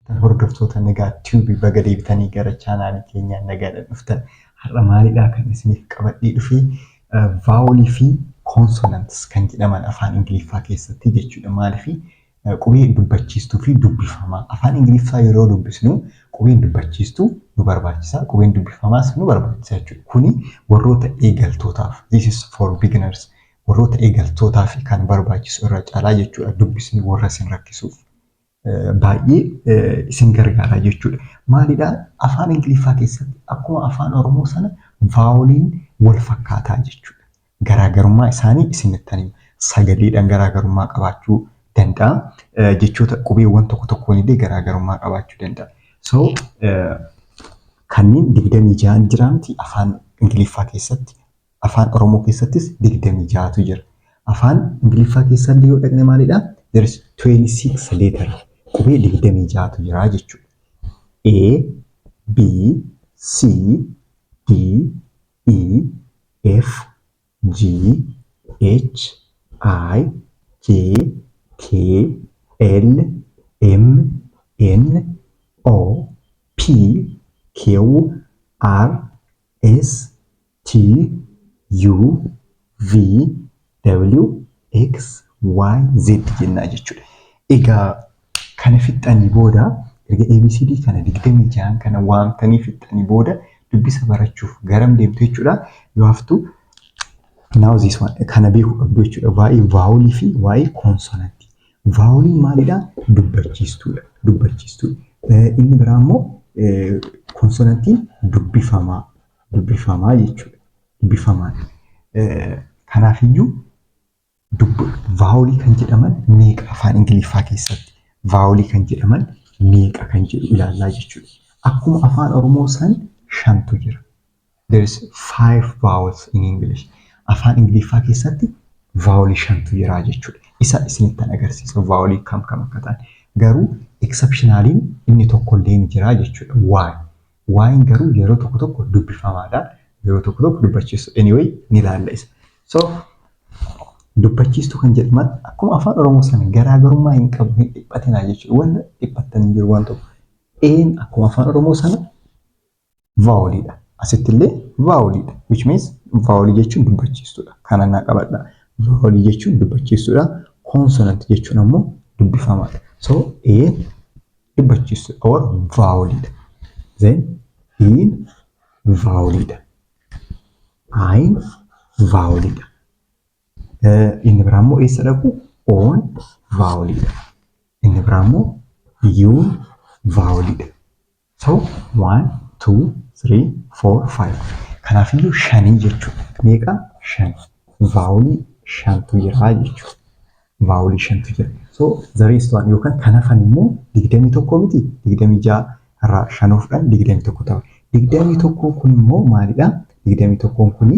Tan hordoftoota Nagaa Tube baga deebitanii gara chaanaalii keenyaa nagaadhaan dhuftan. Har'a maalidhaa kan isiniif qabadhee dhufee vaawolii fi koonsonantis kan jedhaman afaan Ingiliffaa keessatti jechuudha. Maaliif qubee dubbachiistuu fi dubbifamaa. Afaan Ingiliffaa yeroo dubbisnu qubeen dubbachiistuu nu barbaachisa, qubeen dubbifamaas nu barbaachisa jechuudha. Kuni warroota eegaltootaaf, this is for beginners, warroota eegaltootaaf kan barbaachisu irra caalaa jechuudha dubbisni warra isin rakkisuuf. baay'ee isin gargaara jechuudha. Maalidha? Afaan Ingiliffaa keessatti akkuma afaan Oromoo sana vaawoliin wal fakkaataa jechuudha. Garaagarummaa isaanii isinitti hima. Sagaleedhaan garaagarummaa qabaachuu danda'a. Jechoota qubeewwan tokko tokkoon illee garaagarummaa qabaachuu danda'a. So kanneen digdamii ja'an jiraamti afaan Ingiliffaa keessatti Afaan Oromoo keessattis 26tu jira. Afaan Ingiliffaa keessallee yoo dhaqne maalidha? There is 26 letter. Qubee 26tu jira jechuudha. A, B, C, D, E, F, G, H, I, J, K, L, M, N, O, P, Q, R, S, T, U, V, W, X, Y, Z jennaa jechuudha. Egaa kana fixxanii booda erga ABCD kana digdamii jahan kana waamtanii fixxanii booda dubbisa barachuuf garam deemtu jechuudha. You have to now this one kana beekuu qabdu jechuudha. Waa'ee vaawulii fi waa'ee koonsonantii. Vaawuliin maalidha? Dubbachiistuudha. Dubbachiistuudha. Inni biraa immoo koonsonantiin dubbifamaa dubbifamaa jechuudha. Dubbifamaa. Kanaafiyyuu dubbi vaawolii kan jedhaman meeqa afaan Ingiliffaa keessatti vaawolii kan jedhaman meeqa kan jedhu ilaallaa jechuudha. Akkuma afaan Oromoo san shantu jira. There is five vowels in English. Afaan Ingiliffaa keessatti vaawolii shantu jira jechuudha. Isa isinittan agarsiisa vaawolii kam kam akka ta'an. Garuu exceptionaliin inni tokkollee ni jira jechuudha. Why? Y'n garuu yeroo tokko tokko dubbifamaadha. Yeroo tokko tokko dubbachiistu. Anyway ni laalla isa. So dubbachiistuu kan jedhaman akkuma afaan Oromoo sana garaagarummaa hin qabu hin dhiphatinaa jechuudha. Wanta dhiphattan hin jiru waan tokko. Een akkuma afaan Oromoo sana vaawoliidha. Asitti illee vaawoliidha. Which means vaawolii jechuun dubbachiistuudha. Kana naa qabadha. Vaawolii jechuun dubbachiistuudha. Koonsonanti jechuun ammoo dubbifamaadha. So een dubbachiistu or vaawoliidha. Then iin vaawoliidha. Ayin vaawoliidha. Inni biraa immoo eessa dhaqu? Oon vaawoliidha. Inni biraa immoo yuun vaawoliidha. So one, two, three, four, five. Kanaaf iyyuu shanii jechuudha. Meeqa? Shan. Vaawolii shantu jira jechuudha. vaawulii shantu jira. So the rest one yookaan kan hafan immoo digdamii tokko miti digdamii ja'a irraa shan ofdhan digdamii tokko ta'a. Digdamii tokkoon kun immoo maalidha? Digdamii tokkoon kun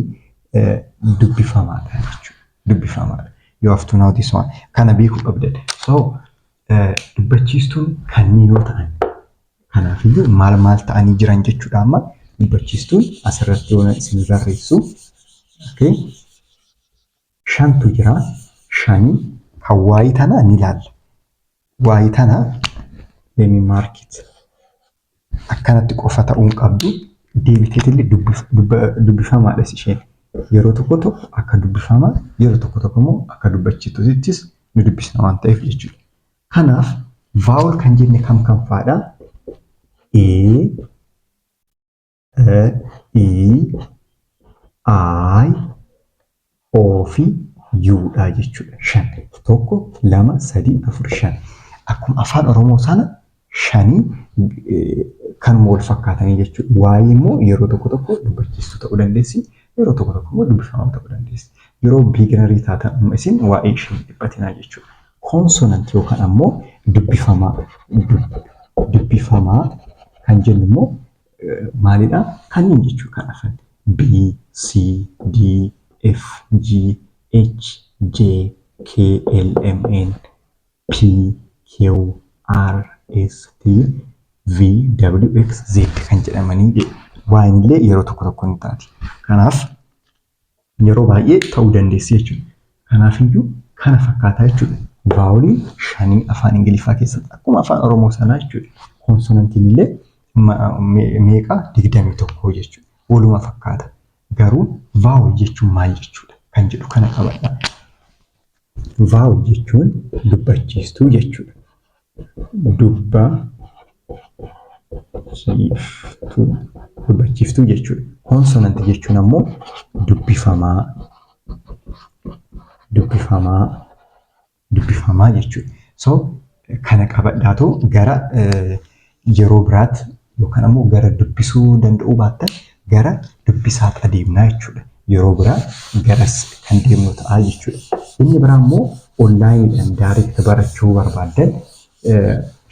dubbifamaadha jechuudha. Dubbifamaadha. You have to know this one. Kana beekuu qabdan. So dubbachiistuun kanneen yoo ta'an kanaafiyyuu maal maal ta'anii jiran jechuudha amma dubbachiistuun asirratti yoo isin barreessu. Okay. shantu jira shani kan waayii tana ni ilaalla waayii tana lemi maarkit akkanatti qofa ta'uun qabdu deebiteetillee dubbifamaadhas isheen yeroo tokko tokko akka dubbifamaa yeroo tokko tokko immoo akka dubbachituttis ni dubbisna waan ta'eef jechuudha. Kanaaf vaawul kan jenne kam kam faadha? A, e i i o fi u dha jechuudha shan tokko lama sadii afur shan akkuma afaan oromoo sana shanii kanuma wal fakkaatanii jechuudha waa'ee immoo yeroo tokko tokko dubbachiistuu ta'uu dandeessi yeroo tokko tokko immoo dubbifamaa ta'uu dandeessi yeroo biiginarii taatan amma isin waa'ee ishee hin dhiphatinaa jechuudha koonsonant yookaan ammoo dubbifamaa dubbifamaa kan jennu immoo maalidha? Kanneen jechuu kan hafan B, C, D, F, G, H, J, K, L, M, N, P, Q, R, S, T, V, W, X, Z kan jedhamanii Y illee yeroo tokko tokko ni taati. Kanaaf yeroo baay'ee ta'uu dandeessi jechuudha. Kanaaf iyyuu kana fakkaataa jechuudha. Vaawolii shanii afaan Ingiliffaa keessatti akkuma afaan Oromoo sanaa jechuudha. Koonsonantiin illee meeqa digdamii tokkoo jechuudha. Waluma fakkaata. Garuu vaawol jechuun maal jechuudha kan jedhu kana qabadha. Vaaw jechuun dubbachiistuu jechuudha. Dubba chiiftuu dubbachiiftuu jechuudha. Koonsonanti jechuun ammoo dubbifamaa dubbifamaa dubbifamaa jechuudha. So Kana qabadhaatu gara yeroo biraatti yookaan ammoo gara dubbisuu danda'uu baattan gara dubbisaatti adeemnaa jechuudha. Yeroo biraa garas kan deemnu ta'a jechuudha. Inni biraa immoo onlaayiniidhaan daariikti barachuu barbaaddan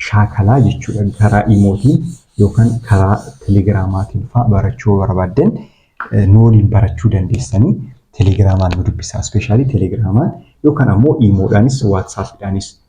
shaakalaa jechuudha. Karaa imootiin yookaan karaa telegiraamaatiin fa'aa barachuu barbaaddan nu waliin barachuu dandeessanii telegiraamaan nu dubbisaa. Ispeeshaalii telegiraamaan yookaan ammoo imoodhaanis waatsaappiidhaanis